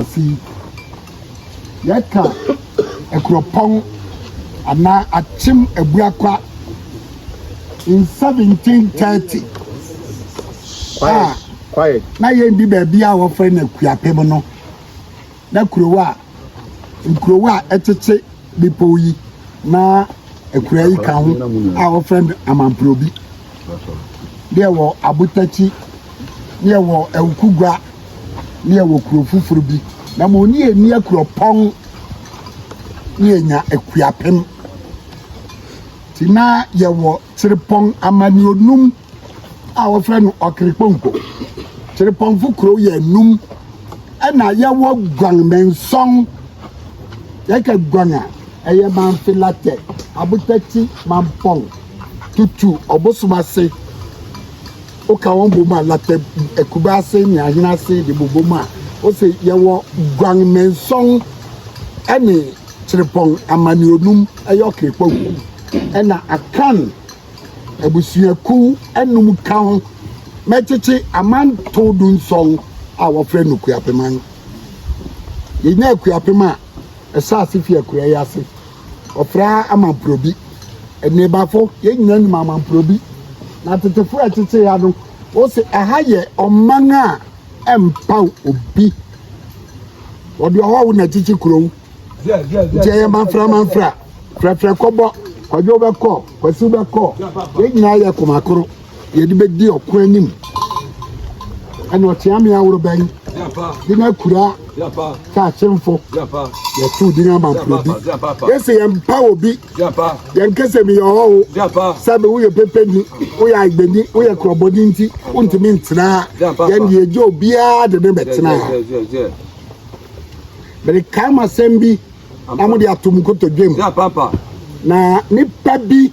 Asase yi. Yɛka Akuropɔn anaa Akyem Abuakwa in 1730 a na yɛndi baabi a wɔfrɛ no Akuapem no na kurow a nkurow a ɛkyekye bepɔw yi na akuraa yi ka ho a wɔfrɛ no Amamprobi, ne ɛwɔ Abotakyi, ne ɛwɔ Awukugua, ne ɛwɔ kuro foforɔ bi. Na mo ne yɛn ni Akuropɔn ne yɛnya Akuapem. Ti na yɛwɔ Kyerepɔn amanneɛnum a wɔfrɛ no Ɔkrepɔnkɔ. Krepɔnfo kurow yɛ anum ɛna yɛwɔ Guan Mensɔn. Yɛka Guan a, ɛyɛ Manfilatɛ, Abotati, Mampɔn, Tutu, Ɔbosom ase. Woka wɔn bom a, Latɛ, Akuba ase ne Ahene ase de bobɔ mu a, wose yɛwɔ Guan Mensɔn ɛne Krepɔn amanneɛnum ɛyɛ Ɔkrepɔnkɔ ɛna Akan abusuakuw anum ka ho ma ɛkyekye amantow dunson a wɔfrɛ no Kuapeman. Yenyaa Kuapem a ɛhyɛ ase fi akuraa yi ase. Wɔfrɛ ha Amanprobi. Nneebafo, yɛn nyinaa nim Amanprobi. Na tetefo a ɛkyekyee ha no, wose ɛha yɛ ɔman a ɛmpaw obi. Wɔde ɔhɔho na ɛkyekye kurow. nti ɛyɛ manfra manfra frɛfrɛ kɔbɔ kɔdwe wobɛkɔ kwasi wobɛkɔ yɛn nyinaa yɛ koma koro yɛde bɛdi ɔko anim ɛna ɔkyea me aworo bɛn de no akura sɛ akyemfo yɛto din amamporo bi yɛsɛ yɛmpa wɔ bi yɛnkɛ sɛ meyɛ ɔhɔho sɛ bɛ woyɛ pɛpɛni woyɛ agbani woyɛ korɔbɔni nti wontumi ntenaa yɛne yɛgye obiara de ne bɛtenaa Merekae mo asɛm bi na mode ato mo nkotodwem. Na nipa bi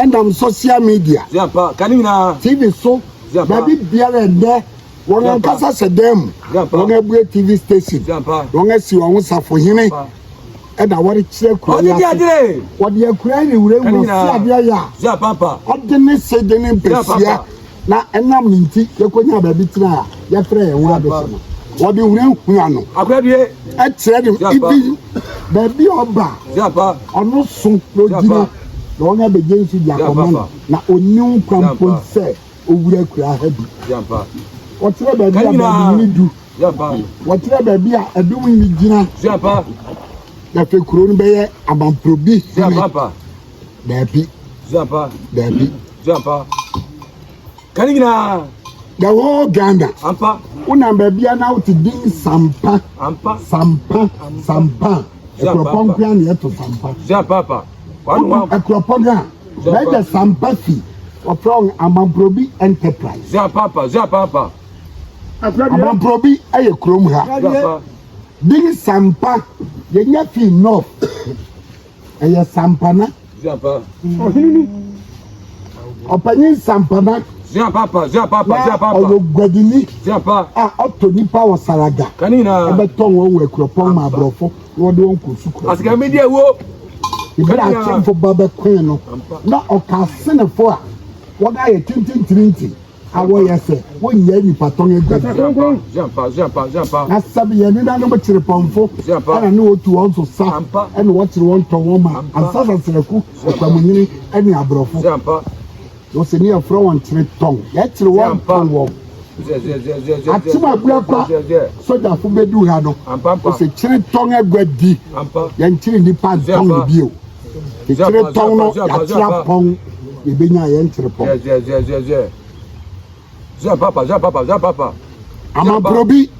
nam social media, TV so, baabi biara ɛnɛ wɔn ankasa sɛ dan mu wɔn abue TV station, wɔn asi wɔn ho safohene ɛna wɔrekyerɛ kuro yi ase. Wɔde akura ne wura mu ɔsi adeɛ yɛ a ɔde ne se de ne mpɛsia. na ɛnam ne nti yɛkɔnyaa baabi tenaa a yɛfrɛ yɛn ho adehye no. Wɔde hunahuna no kyerɛ ne ibi baabi a ɔba a ɔno so na ogyina na wɔn abɛgye nsu de akɔma no, na onni ho kwan mpo sɛ owura kura ha bi. Wɔkyerɛ baabi a baabi hene du, wɔkyerɛ baabi a ɛdom hene gyina, na afei kuro no bɛyɛ Amanfrobi hene. Dabi. Zuapa. Dabi. Zuapa. Ka ne nyinaa. The whole Ghana. Ampa. Wonam baabi a na wote din sampa. Ampa. Sampa. Sampa. Akuropɔn nkoa na yɛto sampa. Zuapapa. Wotu akuropɔn a. Bɛgya sampa fi. Wɔfrɛ wɔn Amamprobi Enterprise. Zuapapa. Zuapapa. Amamprobi yɛ kurom ha. Zuapa. Din sampa yɛnya fi north. ɛyɛ sampana ɔpanyin sampana na ɔyɛ guadini a ɔtɔ nipa wɔ saraga ɛbɛtɔ wɔn wɔ akuropɔn ma aborɔfo na wɔde wɔn kɔ sukuu ebere akyɛnfo ba bɛkoe no na ɔka asenefo a wɔda yɛ tintintirinti. a wɔyɛ sɛ wonnya nnipa tɔn aduan. Na sɛbe yɛn nenanom kyere pɔmfo na ne wɔtu wɔn so sa na wɔkyere wɔn tɔn wɔn ma ansasasraku, akwamunyini ne aborɔfo. Wɔ sɛ ne yɛfrɛ wɔn kyere tɔn, yɛkyere wɔn tɔn wɔn. Akyem abua kwa sogyafo bɛdu ha no, wɔ sɛ kyere tɔn aguadi, yɛnkyere nnipa ntɔn no bio. Tirepɔn no yɛate apɔn yɛbɛnya yɛn tirepɔn. Amamporobi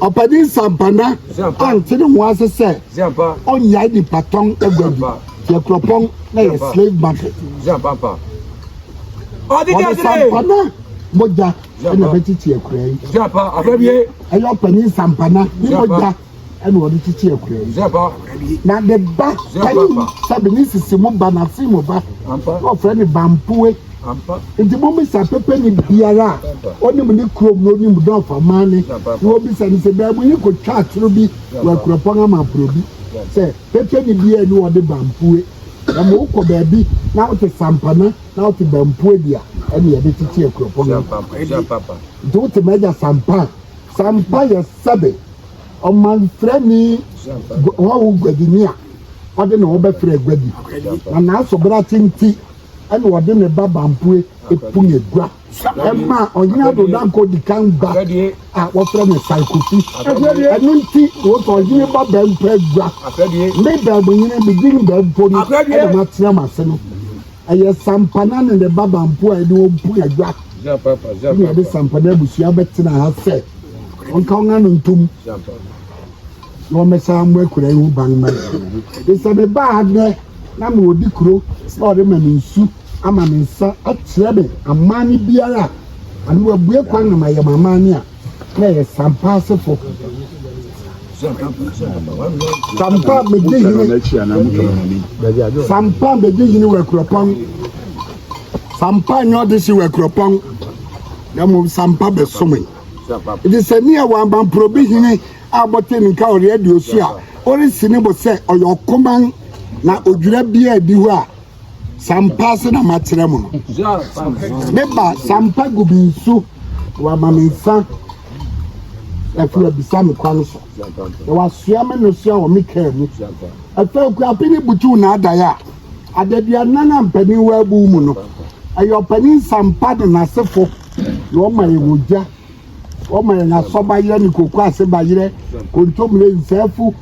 ɔpɛni nsampana ante ne ho ase sɛ ɔnyae nipa tɔn agua bi yɛ kuropɔn na yɛ slave market ɔde sampana mogya na bɛtete akura yi ɛyɛ ɔpɛni nsampana ne mogya ɛna ɔde kyekye akura yi na ne ba ɛyi sɛ bene sisi mo ba na si mo ba ɔfrɛ ne bampoe nti mo bisa pepe ne biara a ɔnim ne kurom na ɔnim dɛ ɔfa maa ne na ɔbisa ne sɛ baabu yi kɔtwa atoro bi wɔ akuropɔn ama aporo bi sɛ pepe ne biara ni ɔde bampoe na mo wokɔ baabi na wote sampana na wote bampoe bi a ɛne yɛde kyekye akuropɔn nti wote ma agya sampa sampa yɛ sɛbe ɔmanfrani hɔho guadini a ɔde ne ho bɛfrɛ aguadi, na n'asobrakye nti ɛna ɔde ne ba Bampue pun agua ɛma ɔhene Addo Dankwa di kan ba a wɔfrɛ no Sai Kofi. Ɛno nti wɔsɔ ɔhene ba Bɛmpo agua. Me Bɛɛbohene, me din Bɛmpo no ɛna matena mo ase no. Ɛyɛ Sampana ne ne ba Bampo a ɛne wɔn pue adwa. Ɛna yɛde Sampana abusua bɛtena ha sɛ wɔnka wɔn ano ntom na wɔmmɛsa mmɔ akuraa yi ho ban mma yɛn. Sɛ mebaa ha nnɛ na mewɔ di kuro na wɔde ma me nsu ama me nsa akyerɛ me amanne biara a anaa wɔabue kwan na mayɛ m'amanne a, na yɛ sampa asefo. Sampa bedi hene. Sampa bedi hene wɔ akuropɔn. Sampa nyɛ ɔde si wɔ akuropɔn. Na mmom sampa bɛsome. Ɛde sɛ ne ɛwɔ abamporo bi hene a bɔte ne nka ɔreɛ de osu a ɔresi ne bo sɛ ɔyɛ ɔkoman na odwira biara di hɔ a sampa se na makyerɛ mo no meba sampa gu bi nsu na wama me nsa afiri abisa me kwan so na wasoa me nnosoa wɔ me kaa mu ɛfɛ okuape ne butuw na adaeɛ a adaduanan a mpanin wɔ abu mu no ɛyɛ ɔpanin sampa de n'asefo na ɔma yɛ wɔ gya Wɔma yɛn asɔbayerɛ ne koko ase bayerɛ, kontommire, nsɛɛfo,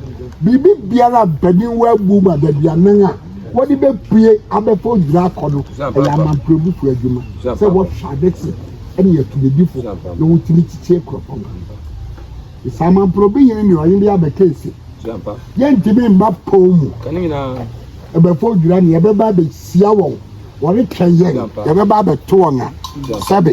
biribi biara a mpanin wɔ abu mu adaduanan a wɔde bɛpue abɛfa odwira akɔ no. Ɛyɛ amamprɛbufo adwuma sɛ wɔhwɛ ade se ɛne atumidifo na wotumi kyekyɛ kuropɔn no. Saa amamprɛbi hene ne ɔhene bi abɛka ese, Yɛntumi mma pɔn mu. Ɛbɛfa odwira ne yɛbɛba abɛhyia wɔn. Wɔretwɛn yɛn, yɛbɛba abɛto wɔn a, sɛbe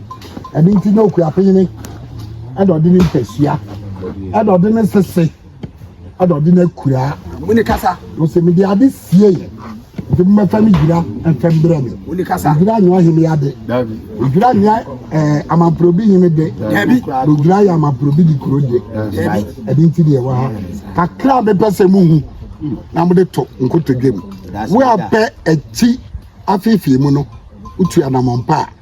Ɛno nti na okuapene ɛna ɔde ne mpasua ɛna ɔde ne sese ɛna ɔde ne kura mo ne kasa ɔsɛ mi de ade sie yi nti mo mɛfa mi gyina ɛfɛ mbrɛ mi mo ne kasa gyina nyɛ ɔhene ade gyina nyɛ ɛɛ eh, amamporobi hene de ɛbi gyina yɛ amamporobi di kuro de ɛbi ɛdi nti deɛ wɔ ha kakra bɛpɛ sɛ mo hu na mo de to nkotodwe mu wo apɛ akyi afeefee mu no wotu anamɔmpa a.